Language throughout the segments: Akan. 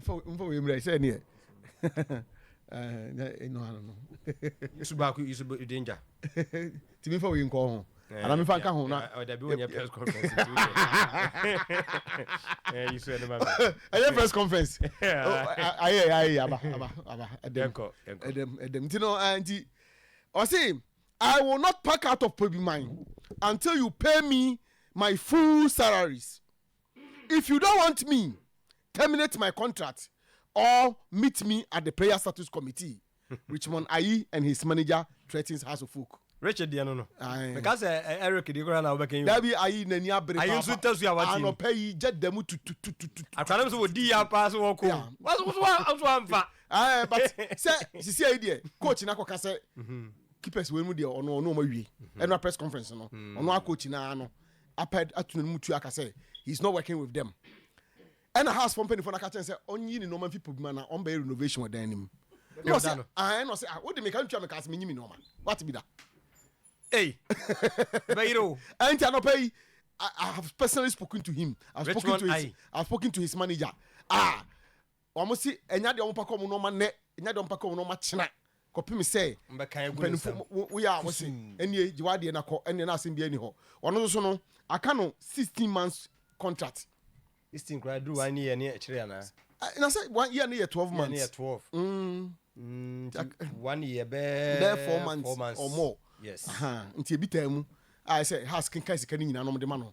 mfa wei mmerɛ sɛ neɛ ɛno ano no yesu baako yesu danger tìmí nfa wei nkɔ ho ana mi fa nka ho na ɔdabi wɔ nyɛ press conference ti o ɛɛ yesu ɛni ma mi ɛyɛ press conference ayɛ ayɛ aba aba aba ɛdɛm ɛdɛm ɛdɛm nti no nti ɔsi i will not pack out of pebi mine until you pay me my full salaries. If you don't want me, terminate my contract or meet me at the prayer status committee, Richmond Ayi and his manager threatens House of Folk. Richard deɛ no no. Aye. Meka sɛ eh, Eric deɛ koraa na wobɛka yi o. Dabi ayi n'ani abere Ayi nso tasu a wate yi. Anɔpɛ yi gya da mu tututututu. Akwadaa no nso wɔdi ya paa sɛ wɔkɔ. Yeah. Wɔso nso wa nso amfa. Aye, but sɛ sisi ayi deɛ coach na akɔka sɛ keepers wei mu deɛ ɔno ɔno ɔmo awie. Ɛnura press conference no ɔno a coach na ano apɛd ato n'anom tua aka sɛ he is not working with them. Ɛna house fo mpanyinfoɔ no aka kyɛn sɛ ɔnyi ne nneɛma mfi pɔbi ma na ɔmbɛyɛ renovation wɔ dan no mu. Na ɔsɛ ah ɛna ɔsɛ ah wode meka ntua meka sɛ menyi me nneɛma. Wate bi da. Ei, bɛyere o. Ɛnti anɔpa yi I have personally spoken to him. I've spoken to his, I've spoken to his manager. Ah, Wɔse, Nya deɛ wɔpɛ kɔ wɔn nnoɔma nnɛ, nya deɛ wɔpɛ kɔ wɔn nnoɔma kyena, kɔpem sɛ mpaninfo woyɛ a wɔse, Ɛnnie, gye w'adeɛ na kɔ, ɛnneɛ na asem biara nni hɔ. Ɔno nso no, aka no sixteen months contract. Sixteen koraa duru one year ne akyire anaa? Na sɛ one year no yɛ twelve months. Year no yɛ twelve. Mm. Nti one year bɛɛ. Bɛɛ four months. Four months or more. Yes. Aha, nti ebi taa mu a ɛsɛ has kenkan sika no nyinaa nom de ma no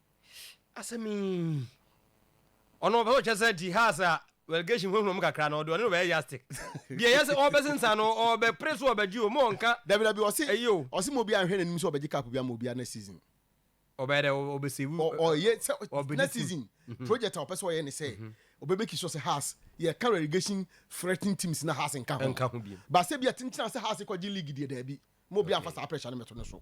Asɛm yi. Ɔno ɔpɛ sɛ ɔkyɛ sɛ ti Haas a relegation hunahuna mu kakra no ɔde ɔne no bɛyɛ yastic. Deɛ ɛyɛ sɛ ɔbɛsensan no ɔbɛpere so ɔbɛgye o ma ɔnka Dabi dabi ɔse ɛyi o. ɔse ma obiara nhwɛ n'anim sɛ ɔbɛgye cup bi ama obiara next season. Ɔbɛyɛ dɛ ɔbɛsave Ɔ ɔyɛ sɛ ɔbene next team. season project a ɔpɛ sɛ ɔyɛ ne sɛ ɔbɛ make sure sɛ Haas yɛka relegation threatening teams na Haas nka ho. Ɛnka ho bio. But sɛ bia tentenase Haas kɔgye league deɛ daabi ma obiara Okay. mfa saa pressure no mmɛto ne so.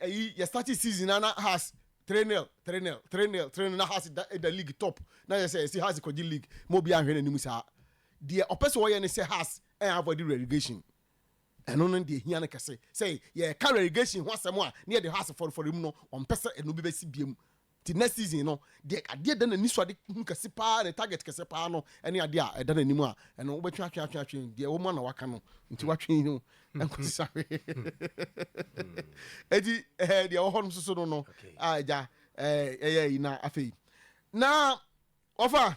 Eyi yɛ starting season na na Hearts three nil, three nil, three nil, three nil, na Hearts da da league top, na yɛ sɛ yɛsi Hearts kɔgye league ma obiara nhwɛ n'anim saa. Deɛ ɔpɛ sɛ ɔyɛ ne sɛ Hearts ɛn avoid relegation, ɛno no deɛ ehia no kɛse. Sɛ yɛreka relegation ho asɛm a na yɛde Hearts fɔrefɔre mu no, ɔmpɛ sɛ ɛno bi bɛsi biam Nti next season no deɛ adeɛ ɛda n'ani so a ade hu kɛse paa ne target kɛse paa no ɛne adeɛ a ɛda n'anim a ɛno wobɛtwe atwe atwe atwe deɛ ɛwɔ mu a na waka no nti watwe no ɛnkɔsi sa hwee ɛti ɛɛ deɛ ɛwɔ hɔ no soso no no a ɛgya ɛɛ ɛyɛ yi na afei na wɔfa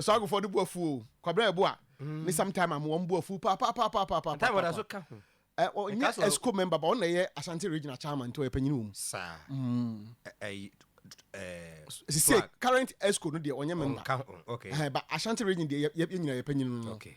saa agofɔ de bu afu o kwabra ɛbo a ne mm. sometime am wɔn bu afu paapaapaapaapa time wɔda so ka ho ɛ ɔnyɛ esco member ba ɔna ɛyɛ asante regional chairman nti ɔyɛ panyin wɔm saa mm. ɛyi ɛɛ sise current esco no deɛ ɔnyɛ member ɛhɛn ba asante region deɛ yɛ yɛ nyina yɛ panyin no okay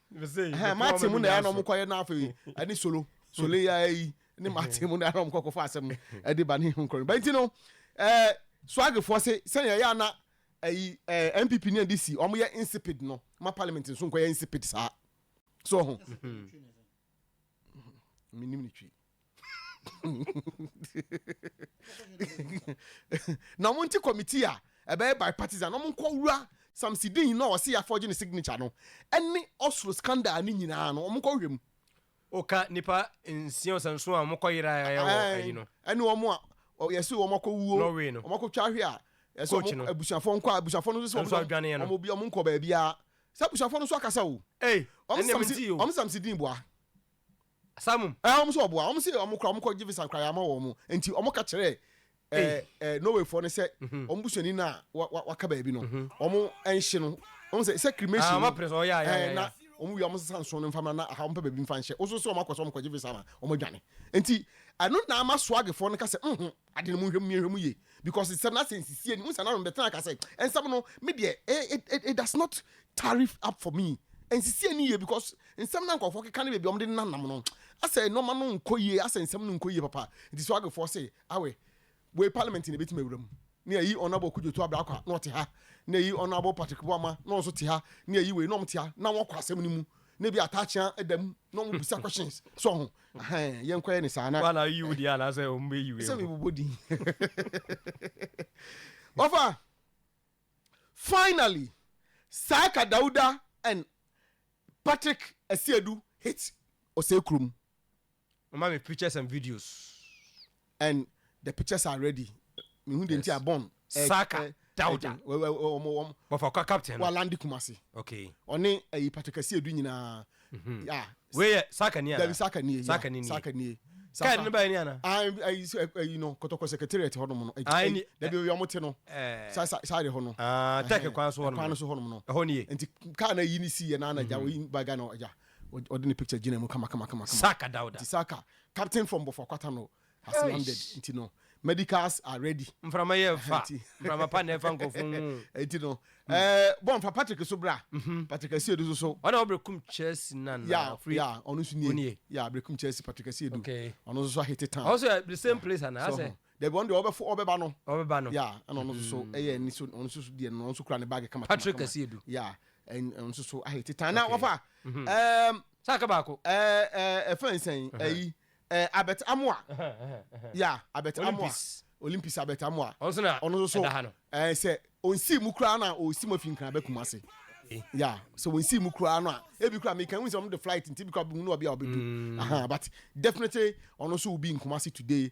ɛhɛn mate mu na ɛyɛ na wɔn kɔyɛ na afei ɛne solo solo yi ara yi ne mate mu na ɛyɛ na wɔn kɔkɔfa asɛm no ɛde ba ne ho nkɔrɔ ba nti no ɛɛ swagifoɔ se sɛnea ɛyɛ na ɛyi ɛɛ npp ne ndc wɔn yɛ insipid no ma parliament nso nkɔyɛ insipid saa so ho. menim ne twi na ɔmo nti committee a ɛbɛyɛ bipartisan na ɔmo nkɔ wura samsidin na ɔsi afɔgye ne signature no ɛne ɔsoro scandal ne nyinaa no ɔmo nkɔ hwɛ mu. ɔka nipa nsia ɔsanso a ɔmo kɔ yera ɛyɛ wɔ ayi no. ɛne ɔmo a yɛsi ɔmo akɔ wuo Norway no ɔmo akɔ twa ahwe a yɛsi ɔmo abusuafo nkɔ a abusuafo no nso ɔmo ɔmo bi ɔmo nkɔ baabi a Sɛ abusuafoɔ no nso akasa o. Ei, Wɔn ɛnneɛ samsi, mentie o. wɔn samsi din boa. Samum. Ɛɛ, wɔn nso ɔboa. Wɔn se wɔn kora, wɔn kɔ gye visa kora yɛama wɔn. Nti wɔn ka kyerɛɛ Ei. ɛɛ ɛɛ Norwayfoɔ no sɛ wɔn busuani no a wa wa waka baabi no, wɔn ɛnhye no. Wɔn sɛ sɛ Ah, cremation wɔn no, apere so, ɔyɛ a, yɛ a, yɛ ɛɛ a, yɛ na a. wɔn wia wɔn sesa nso no mfa mmra na aha wɔn pɛ baabi mfa nhyɛ. Woso sɛ wɔn akɔ sɛ wɔn kɔ gye visa ma wɔn adwane. Nti ɛno na ama swagfoɔ no ka sɛ, mhm. Ade no monhwɛ mu yɛnhwɛ mu yie because nsɛm no asɛ nsisie ni wohu saa na no bɛtena kasɛ nsɛm no me deɛ it it does not tarry up for me ɛnsisie ni yie because nsɛm na nkɔfoɔ keka ne baabi ɔmo de nna nam no asɛ nnoɔma no nkɔ yie asɛ nsɛm no nkɔ yie papa nti so agefoɔ se awe wei parliament na ebetumi awura mu ne ayi honourable kudwoto abrakwa na ɔte ha ne ayi honourable patrick boama na ɔnso te ha ne ayi wei na ɔmo te ha na wɔkɔ asɛm no mu na ebi ataakyea da mu na wɔn bisa questions so ho ahɛn yɛn kɔyɛ ne saa na. wọn na yi wo di anaasɛ wɔn bɛ yi wo. sɛ mi bobɔ din wafa finally saaka dawuda and patrick asiadu hit ɔsɛ kurom. Ɔma me pictures and videos. And the pictures are ready. Mehu deɛ nti a Bon. Saka Dauda. Bɔfakwa captain no. Walandi Kumasi. Okay. Ɔne ɛyi Patrick Asiedu nyinaa. Yeah. Wei yɛ Saka ni ana? Dabi Saka ni. Saka ni. Saka ni. Kaadi no baa ni ana? Ayi ayi no kɔtɔkɔ secretariat hɔ nom no. Ayi. Dabi oyi ɔmo te no. Sa sa sa de hɔ no. Ah tɛk kwan so hɔ nom. Kwan so hɔ nom no. Ɛhɔ ni ye. Nti kaa na yi ni si yɛ na na gya oyi ba gya na gya. Ɔde ne picture gyina mu kama kama kama kama. Saka Dauda. Nti Saka, captain for Mbofra Kwata no has landed nti no medicals are ready. Mframa yɛ fa, mframa pa na ɛfa nkorɔfo ho o. Nti no ɛɛ bɔ mfa Patrick so bra, Patrick Asiedu nso so. Ɔna ɔbrekum Chelsea no anaa ɔfiri. Yeah yeah ɔno nso nie, yeah brekum Chelsea Patrick Asiedu, ɔno nso so ahete town. Ɔno nso yɛ the same place anaa asɛ. Dabi, ɔno deɛ ɔbɛfo ɔbɛba no. Ɔbɛba no. Yeah, ɛna ɔno nso so mm. ɛyɛ ɛni so ɔno nso so deɛ no ɔno nso kura ne baagi kama. Patrick Kasiedu. Yeah, ɛn ɔno nso so ahete tan na wafa. Ɛɛm. Mhm. Um, Saka baako. Ɛɛ ɛɛ ɛfɛn nsɛn ɛyi ɛɛ Albert Amoa. Yeah, Albert Amoa. Olympics Albert Amoa. Ɔno nso na ɔno nso so ɛɛ sɛ onsi mu kura na osi mu afi nkran bɛ kuma se. Eh. ya sɛ wɔnsi mu koraa no a ebi koraa meka hu sɛ ɔno de flight nti bi koraa bɛhu no ɔbi a ɔbɛdu mm. but definitely ɔno nso will be in Kumasi today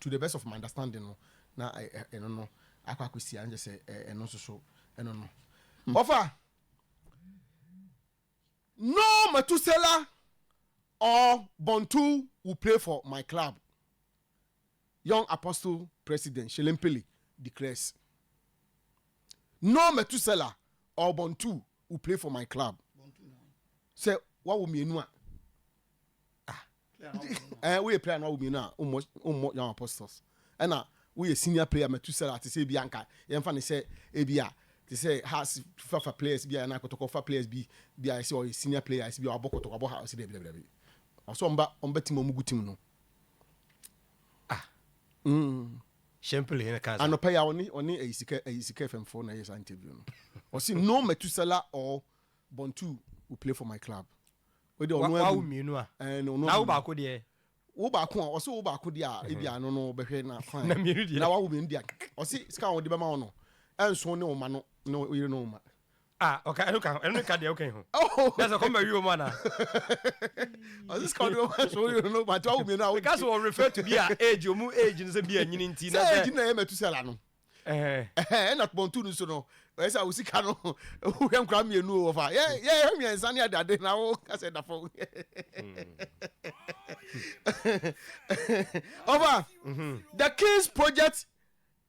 to the best of my understanding no na ɛno no akɔ akɔsi a nkyɛ sɛ ɛno nso so ɛno no ɔfa no matusela or bontu will play for my club young apostle president shelempele declares no matusela or bontu will play for my club sɛ wawo mmienu a woyɛ prayer no awo mmienu a wommɔ wommɔ young apostles ɛna woyɛ senior player matusala te sɛ ebi anka yɛmfa ne sɛ ebi a te sɛ house fafa players bi a yɛn akɔtɔkɔ fa players bi bi a ɛsɛ ɔyɛ senior player ɛsɛ bi a ɔbɔ kɔtɔkɔ ɔbɔ house dɛbi dɛbi dɛbi ɔsɔ ɔmba ɔmba tim ɔmo gu tim no ah mm. Simple yɛn kan sa. Anɔpa yi a ɔne ɔne ɛyi sika ɛyi sika fɛmfo na ɛyɛ saa interview no. Ɔsi no matusala or Bontu will play for my club. Wode ɔno agu. Wawo mmienu a. Ɛɛ na ɔno agu. Na wo baako deɛ. Wo baako a ɔsɛ wo baako deɛ a ebi ano no bɛhwɛ na kwan. Na mmienu deɛ. Na wawo mmienu deɛ ɔsɛ sika a wɔde bɛma wo no ɛnso ne ɔma no ne ɔyere no ɔma. Ah, ɔka ɛno ka ɛno ka deɛ ɔka yi ho. Oh. Na sɛ kɔmba wi wɔn ana. Ɔsɛ sika wɔde bɛma ɛnso ɔyere no ɔma nti wawo mmienu a. Ɔka sɛ wɔ refer to bi a age ɔmu age no sɛ bi a nyini nti na sɛ. Sɛ age na yɛ mɛtu sɛla no. Ɛhɛn na pɔntu no so no ɔyɛ sɛ wo sika no wohwɛ nkora mmienu o wɔfa yɛ yɛ hwɛ mmiɛnsa ne adade na wo ka sɛ da fam ɔfa the king's project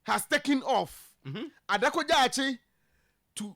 has taken off mm-hmm. adakɔgyaakye to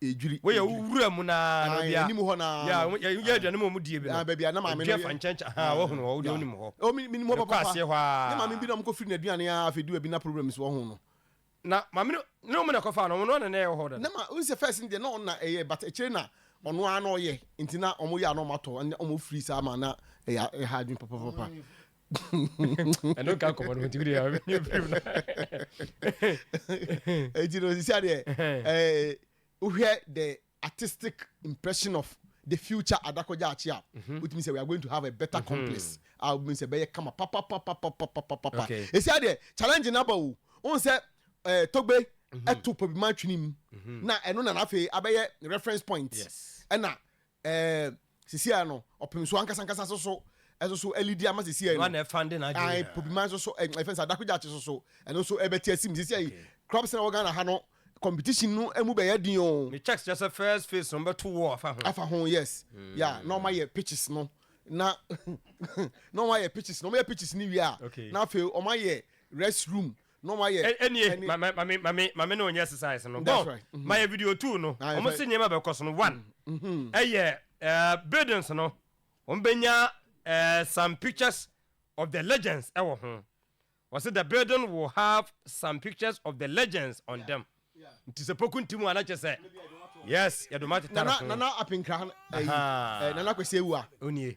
edwiri, Woyɛ edwiri. wura mu na na Ae, obi a. anim hɔ na Yeah, no. wɔn- yɛ- yɛ Ae. aduane mu a wɔn die bi no. Ah, baabi a na maame no Edua yɛ. fa nkyɛnkyɛn, ahaa, Ah, wɔhunu hɔ, wode yeah. wonim hɔ. Oh, me- menim hɔ Mekɔ papaapa. aseɛ hɔ ara. Ne maame bi na wɔkɔfiri n'aduane a afei du baabi na problems wɔ ho no. Na maame no, ne wɔn na ɛkɔfaa no, wɔn no na na ɛwɔ hɔ da no. na ma n sɛ first no deɛ na ɔno na ɛyɛ but akyire na ɔno ara na ɔyɛ nti na ɔmo yɛ a na ɔmo atɔ ɛnna ɔmo firi saa ma na ɛyɛ ɛha adwene papapapa ɛno nka nkɔmmɔ no ntimi deɛ ɛnyɛ birim no ɛnti no sisia deɛ eh, wohwɛ the artistic impression of the future adakɔgya akye a wotumi sɛ we are going to have a better complex a wobɛhu sɛ bɛyɛ kama papapapapapapapa ɛsia deɛ challenge no aba o wohu sɛ eh, togbe ɛto pabima atwene mu na ɛno nana afei abɛyɛ reference point ɛna Ɛɛ, sisiaa no, ɔpem so ankasa ankasa so so, ɛso so alidi ama sisiaa no. Ɔno na ɛfa de n'adwene nyinaa. Ae, pobiman so so, ɛɛ, ɛfɛn sɛ adakogyaakye so so, ɛno so ɛbɛte asim. Sisiaa yi, clubs na wɔ Ghana ha no, competition no ɛmu bɛyɛ den o. Ne checks kyerɛ sɛ first phase no, wɔbɛto wall afa ho. Afa ho, yes. Ya, na wɔn ayɛ pitches no, na, na wɔn ayɛ pitches no, wɔn yɛ pitches no wie a, na afei wɔn ayɛ rest room No ma yɛ. Ɛnie ma ma ma me ma me ma me ne onyɛ exercise no. That's right. Mm -hmm. Ma yɛ video two no. Ah, Ɔmo si nneɛma bɛkɔ so no one. Mm -hmm. Ɛyɛ uh, buildings no. Ɔmo bɛnya uh, some pictures of the legends ɛwɔ ho. Wɔsi the building will have some pictures of the legends on yeah. them. Yeah. Nti sɛ poku nti mu anakyɛ sɛ. Yes, yɛdoma tetare ho. Nana nana apinkra. Nana kwesi ewu a. Onie.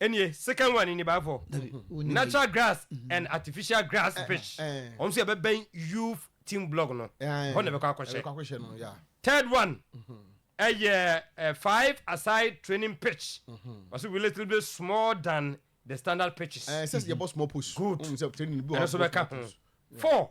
ɛnie second one ni baafɔ natural grass mm-hmm. and artificial grass eh, fish eh. wɔn nso yɛ bɛbɛn youth team blog no hɔ na ɛbɛkɔ akɔhyɛ third one mm-hmm. ɛyɛ eh, five aside training pitch mm-hmm. wɔsi we little bit small than the standard pitches ɛsɛ sɛ yɛ bɔ small post good ɛnso bɛka ho four.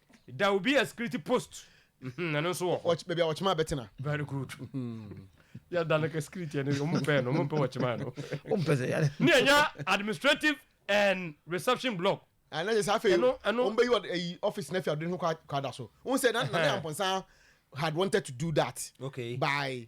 There will be a security post. Mhm, ɛno nso wɔ hɔ. Wɔkye- baabi a ɔkyema bɛtena Very good. Yɛ da no ka security ɛno wɔn mpɛ no wɔn mpɛ wɔ kyema no. Wompɛ sɛ yɛn. Ne yɛnya administrative and reception block. Ah, na kyerɛ sɛ afei Ɛno- ɛno- wɔn bɛyi ɔde- ayi office no afi ɔde ne ho kɔ- kɔada so wohu sɛ na na ne Ɛhɛn. ampɔnsa had wanted to do that Okay. by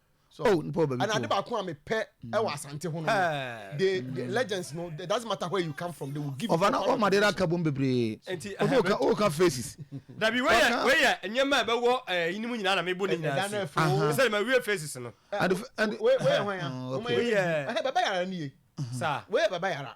So oh, nipa ɔbɛ mi to. Ɛna ade baako a mepɛ ɛwɔ mm. asante ho no. The the mm. legends no it doesn't matter where you come from they will give you. Ɔfa na ɔma de na ka bom bebree. Nti ɛhɛn o ka o ka faces. Dabi weyɛ weyɛ nneɛma a ɛbɛwɔ ɛɛ yinim nyinaa na mebo ne nyinaa si. Sɛ ɛma wiye faces no. Weyɛ hɔn ya. Weyɛ. Ɛhɛ bɛbɛ yara ni ye. Saa. Weyɛ bɛbɛ yara.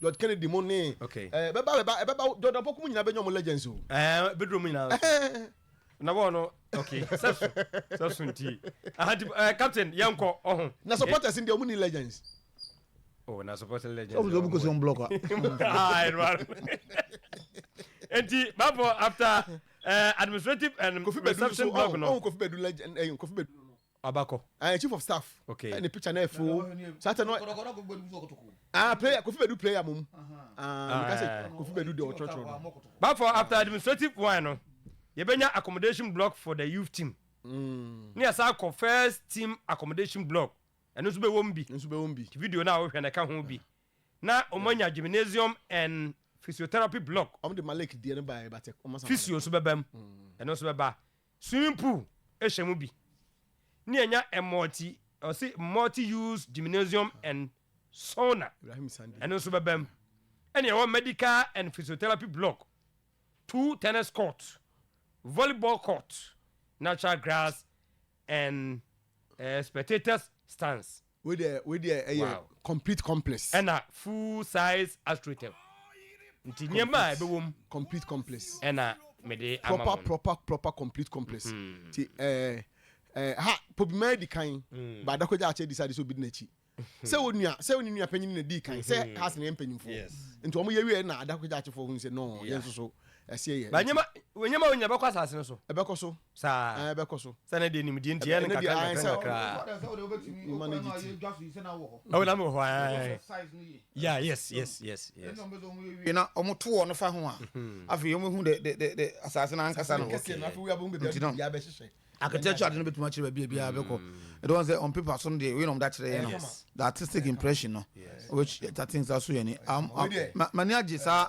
George Kennedy mo ne okay eh bɛba bɛba eh, bɛba Jordan pɔku mu nyinaa bɛnya ɔmo legends o ɛɛ bɛduro mu nyinaa na wɔn no okay sɛso sɛso nti ahadi ɛɛ eh, captain yɛn kɔ ɔho na supporters ndi ɔmo ni legends oh na supporters legends ɔmo sɛ ɔmo kɔ sɛ ɔmo block a aa ɛnu ara nti baabɔ after ɛɛ eh, administrative and reception block no ɔmo kofi bɛdu legend ɛɛ eh, kofi bɛdu. Wabakɔ. Ɛɛ chief of staff. Okay. Ɛna picture na ɛfo. Saa tɛ no. Ah player kofi bɛdu player mom. Ah mi ka sɛ ah, kofi bɛdu de ɔtɔtɔ. But for after administrative one no, yɛbɛnya accommodation block for the youth team. Mm. Ne yɛsan kɔ first team accommodation block. Ɛno nso bɛwɔ mu bi. Nso bɛwɔ mu bi. Ti video na wohwɛ na ɛka ho bi. Na wɔn anya gymnasium and physiotherapy block. Wɔn de Malik deɛ no ba yɛ ba tɛ. Physio nso bɛba mu. Mm. Ɛno nso bɛba. Swimming pool hyɛ mu bi ne ɛnya multi ɔse multi use gymnasium and sauna ɛno nso bɛba mu ɛne ɛwɔ medical and physiotherapy block two tennis court volleyball court natural grass and uh, spectators stands. Wei deɛ wei deɛ ɛyɛ Wow. complete complex. Ɛna full size astroturf. Nti nneɛma a ɛbɛwɔ mu Complete complex. ɛna mede ama Proper wɔn. proper proper complete complex. Nti ɛɛ ɛɛ ha Pobima adi kan but Dako Gyaakyɛ decide sɛ obi di n'akyi. Sɛ onua sɛ ne nua panyin na dii kan sɛ ha se na yɛn mpanyinfoɔ. Yes. Nti wɔn yɛ wieɛ na Adako Gyaakyefoɔ hunu sɛ no yɛn Yeah. nso so ɛseɛ yɛ. Ba nti nneɛma nneɛma wei nyinaa ɛbɛkɔ asase no so. ɛbɛkɔ so. Saa. Ɛɛ bɛkɔ so. Sɛ ne deɛ nimdeɛ nti ɛyɛ no nkakra nkakra nkakra. Mma ne gye ti. Ɛwɔ na mo hɔ ɛɛ. Yeah yes yes yes yes. Na wɔn to wɔn fa ho a. Afei wɔn ehu de de de asase na ankasa no. Nti no. Architecture adi no betumi akyerɛ baabi ebi a bɛkɔ. Ɛdɔ wɔn sɛ on paper so no deɛ wei na wɔn da kyerɛ yɛn no. The artistic impression no. Which that things aso yɛn ni. Mani agye saa.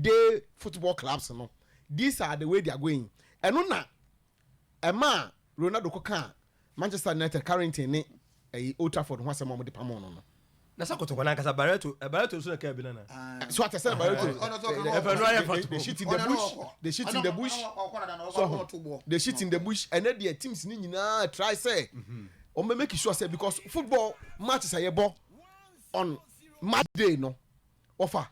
day football clubs no these are the way they are going ɛno na ɛmaa Ronaldo kɔkaa Manchester United Carrington ne ɛyi Old Trafford ho asɛm a wɔde pamoo no no. Na sɛ kotoko no ankasa Barreto ɛ Barreto nso na ɛkaa bi no anaa. So ate sɛ na Barreto Ɔno nso ɔka Ɛfɛ no ayɛ they, they fatogo. shit in the Ɔno na bush ɔkɔ. they shit in the Ɔno- bush ɔno ɔkɔ dada no, ɔkɔ- so ɔkɔ to bɔ. they shit in the bush ɛnɛ deɛ teams no nyinaa try sɛ wɔn bɛ make sure sɛ because football matches a yɛbɔ on match day no wɔfa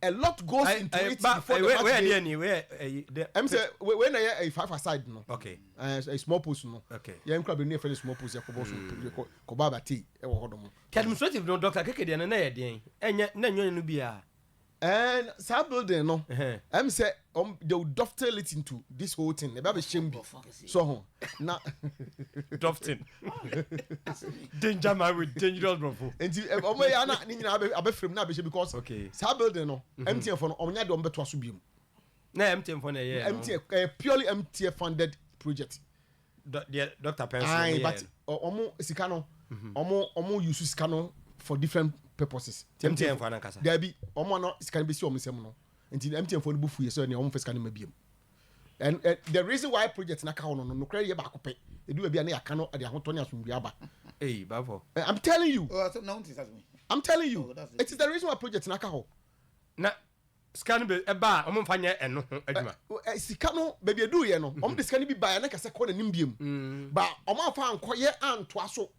a lot goes I, into I, it but, before I, the match where, day. Any, where, uh, the, I'm say where na a five aside no. Okay. Uh, a small post no. Okay. Yeah, I'm grabbing a small post. Yeah, kobo so kobo kobo abati. Eh, wo hodomo. The administrative no doctor keke dia na na yɛ den. Enya na nyo no bia. Eh, sa building no. I'm say Wɔn they will dovetail it into this whole thing. Ɛbɛ abɛhyɛ mu bi. Sɔ ho na. Dovetail. Danger man with dangerous brofo. Nti eh, wɔn yɛ ana ne nyinaa abɛ abɛfrɛ mu na abɛhyɛ because. Okay. Saa building no mhm. MTN fo no wɔn nya de wɔn bɛto aso bi mu. Na MTN fo na ɛyɛ. MTN ɛyɛ eh, purely MTN funded project. dɔ deɛ doctor pɛn so wɔn yɛ no wɔn sika no wɔn wɔn use sika no for different purposes mtn fo anankasa daabi wɔn a na sika no bɛ si wɔn nsam no nti mtn fo no bu fu yɛ sɛ ɛni wɔn fɛ sika no ma biem and uh, the reason why project na ka no no no credit ba ko pe edu ba bia na yaka no de ahotɔ ne asomdwe aba hey bafo eh, i'm telling you oh, i'm telling you oh, it is the reason why project na ka ho na sika no bɛ ɛba a wɔn nfa nyɛ ɛno ho adwuma. Ɛ sika no baabi eduu yɛ no wɔn de sika no bi ba yɛ ne kɛse kɔ n'anim biem mm. ba wɔn afa ankɔ yɛ antoa so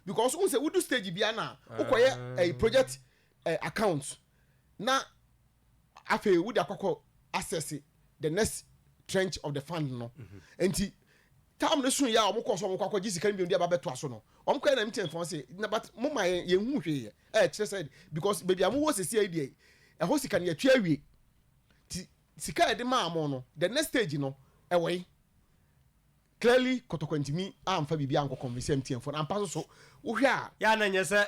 because n sɛ wodu stage bia na wokɔ yɛ ah. ɛ project ɛ account na afei wode akɔkɔ access the next trench of the fund no mm-hmm. nti Tam no so yɛ a wɔkɔɔ so wɔkɔ akɔgye sika no bio de aba bɛtoa so no, wɔkɔyɛ na meeting fɔn se na but mo ma yɛn yɛn hu hwee yɛ ɛkyerɛ sɛ because baabi a mo wɔ sisi ayi deɛ ɛhɔ sika no yɛtwe awie ti sika yɛde maa mo no the next stage no ɛwɔ yi clearly kɔtɔkɔ ntumi amfa biribi ankɔ convince MTN fɔn ampa so so wohwɛ a. Yɛ a na nyɛ sɛ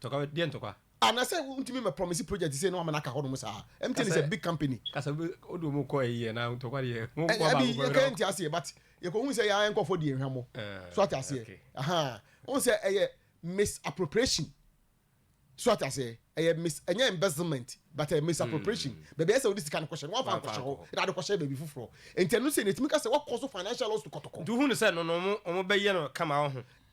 Ntɔkwa? Deɛ ntɔkwa? Anasɛ wo ntumi mɛ promise project sei na wamɛ no aka hɔ nom saa? MTN is a big company. Kasɛ wo de wɔn kɔ ayi anaa ntɔkwa deɛ wɔn kɔ baako pɛ. Yɛka yɛnte aseɛ but yɛkɔ hu sɛ yɛa nkɔfoɔ di yɛn hwammɔ. So ate aseɛ? Ahaa. Wohu sɛ ɛyɛ misappropriation. So ate aseɛ? Ɛyɛ mis ɛnyɛ embezzlement but ɛyɛ misappropriation. Baabi a ɛsɛ sɛ wode sika no kɔhyɛ no woamfa ankɔhyɛ hɔ na wode kɔhyɛɛ baabi foforɔ. Enti ɛno sei no ɛtumi ka sɛ woakɔ so financial loss to kɔtɔkɔ. Nti wohu no sɛ no no wɔn bɛyɛ no kama woho.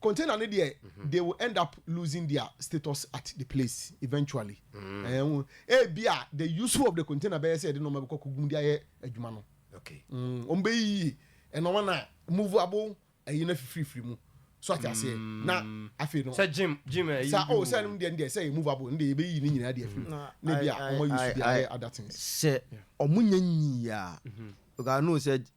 container no deɛ mm-hmm. they will end up losing their status at the place eventually mm. eh, oh, ebi a the useful of the container bɛyɛ sɛ yɛde nneɛma bɛkɔ kogum de ayɛ adwuma no mm, wɔn bɛyiyi nneɛma na movable ɛyi na fifirifiri mu so ate aseɛ mm. na afei no sɛ gym gym ɛyi sa o oh, sɛ ɛnum deɛ ɛndeɛ sɛ ɛyɛ movable ɛndeɛ yɛ bɛyiyi ne nyinaa deɛ firi ne bi a wɔn ayusu de ayɛ other things sɛ wɔn nyɛ nyiya mm-hmm. because i know sɛ.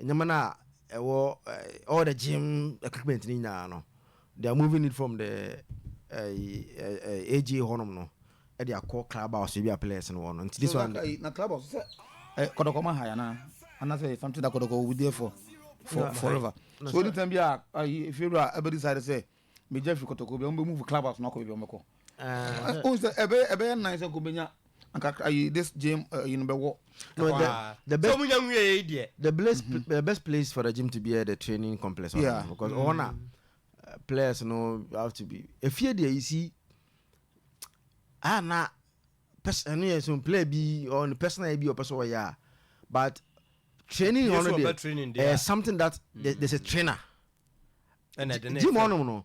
nneɛma no a ɛwɔ all the gym equipment no nyinaa no they are moving it from the uh, AG hɔnom no ɛde akɔ club house ebi a players no wɔ no nti this one. na club house sɛ eh, kɔdɔkɔ ma ha yɛ anaa anasɛ something that kɔdɔkɔ will be there for for forever so anytime bi a efiri a ɛbɛ decide sɛ. megya fi kɔtɔkɔ bi a wɔbɛ move club house no akɔ baabi a wɔbɛkɔ ohun sɛ ɛbɛyɛ ɛbɛyɛ nan sɛ nko benya nkakra ayi this gym ayi no bɛwɔ the best wɔn nya nwie yɛ deɛ the best mm-hmm. the best place for the gym to be at the training complex yeah. because wɔn na players no have to be efie deɛ you see ah na person ɛno yɛ so player bi or ne personal bi ɔpɛ sɛ ɔyɛ a but training wɔn no deɛ ɛyɛ something that mm. there's a trainer. Jim ɔnom no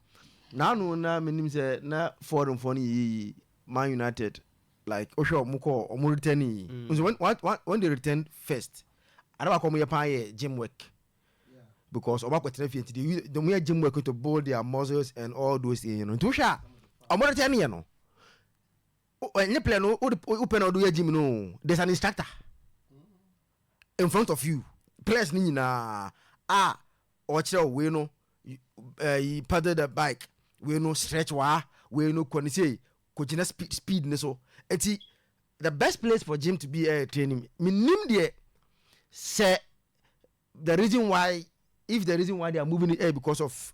n'ano na menim sɛ na foreign fɔ no yiyi Man United like wohwɛ ɔmo kɔ ɔmo return yi mm. nso when, when, when they return first ada baako ɔmo yɛ paa yɛ gym work because ɔmo akɔtena fie nti they use ɔmo yɛ gym work to build their muscles and all those things no nti wohwɛ a ɔmo return yɛ no ɛnyɛ player no wopɛ na ɔde yɛ gym no there's an instructor in front of you players ni nyinaa a. Ah, ɔkyerɛw wei no ɛyi eh, paddle the bike wei no stretch waa wei no kɔ ne sei kɔgyina speed speed ne so eti the best place for gym to be ɛyɛ eh, training menim deɛ sɛ the reason why if the reason why they are moving it eh, because of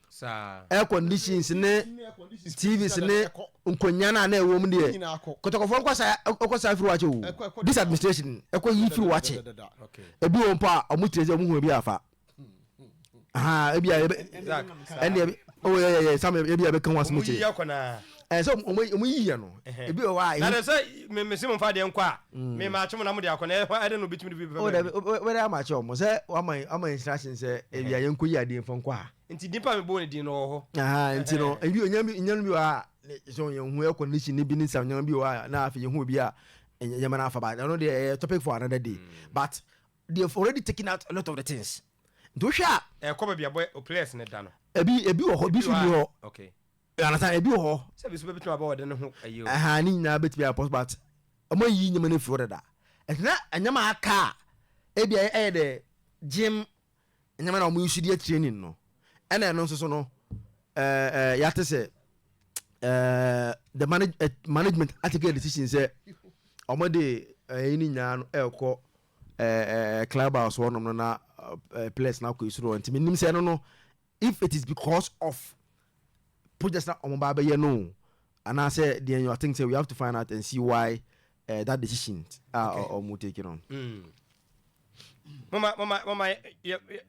air conditions ne tvs ne nkonnwa no a na ɛwɔ mu deɛ kɔtɔkɔfoɔ nkɔ saa ɛkɔ saa firi wakyɛ o this administration ɛkɔ yi firi wakyɛ ebi wɔn mpo a wɔn tiri sɛ wɔn hu ebi afa ahan ebi a ɛbi ɛnna ɛbi ɔwɔ yɛ yɛ yɛ sam ebi a ɛbɛka wɔn asɛm kyerɛ. ɛɛ sɛ ɔmo ɔmo yi yɛ no ebi wɔ hɔ a. na dɛ sɛ me me se mo nfa deɛ nkɔ a mm. me ma akye mo na mo de akɔ na ɛhɔ ɛdɛ na obi tumi de bi bɛfɛ bɛbi. o bɛ dɛ ama akye ɔmo sɛ wama ama instruction sɛ ebi a yɛn kɔ yi adeɛ nfa nkɔ a. nti nipa mi bɔ ne din na ɔwɔ hɔ. nti no ebi onyan bi onyan bi wɔ a so yɛn ho yɛ condition ne bi ne sa onyan bi wɔ a na afɛ yɛn ho obi a yɛn mɛ na afa ba ɛno deɛ ɛyɛ topic for another day mm. but they have already taken out a lot of the things nti wohwɛ a. ɛkɔ baabi abɔ o players ne da no. ebi ebi wɔ hɔ ebi so bi hɔ. okay You understand? Ebi wɔ hɔ. Sɛ ebi nso bɛbɛtumi aba ɔde ne ho ayi o. Ɛhaa ne nyinaa bɛtumi ayɛ pɔs but wɔn ayiyi nneɛma no afi hɔ dada. Ɛti na nneɛma a aka a ebi a ɛyɛ dɛ gym nneɛma na wɔn yi so deɛ training no ɛna ɛno nso so no ɛɛ ɛɛ yɛate sɛ ɛɛ the manage eh, management atake a decision sɛ wɔn de ɛyi ne nyinaa no ɛrekɔ ɛɛ ɛɛ club house hɔ nom no na ɛɛ players na akɔ esoro hɔ nti mi nim sɛ ɛno no If it is because of project na wɔn ba abɛyɛ no o anaa sɛ deɛ you think sɛ we have to find out and see why uh, that decision a wɔn take no. mama mama mama yɛ yɛ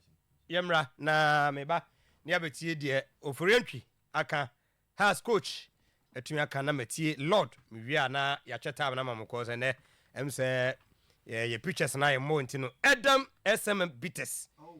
yɛ mra na meba ne abɛtie deɛ oforiantwi aka has coach atumi aka na matie lord mewie a na yɛakyɛ taa na ma mo kɔɔ sɛ nɛ ɛm sɛ yɛ pictures na yɛ mmɔ nti no ɛdam sm bitters.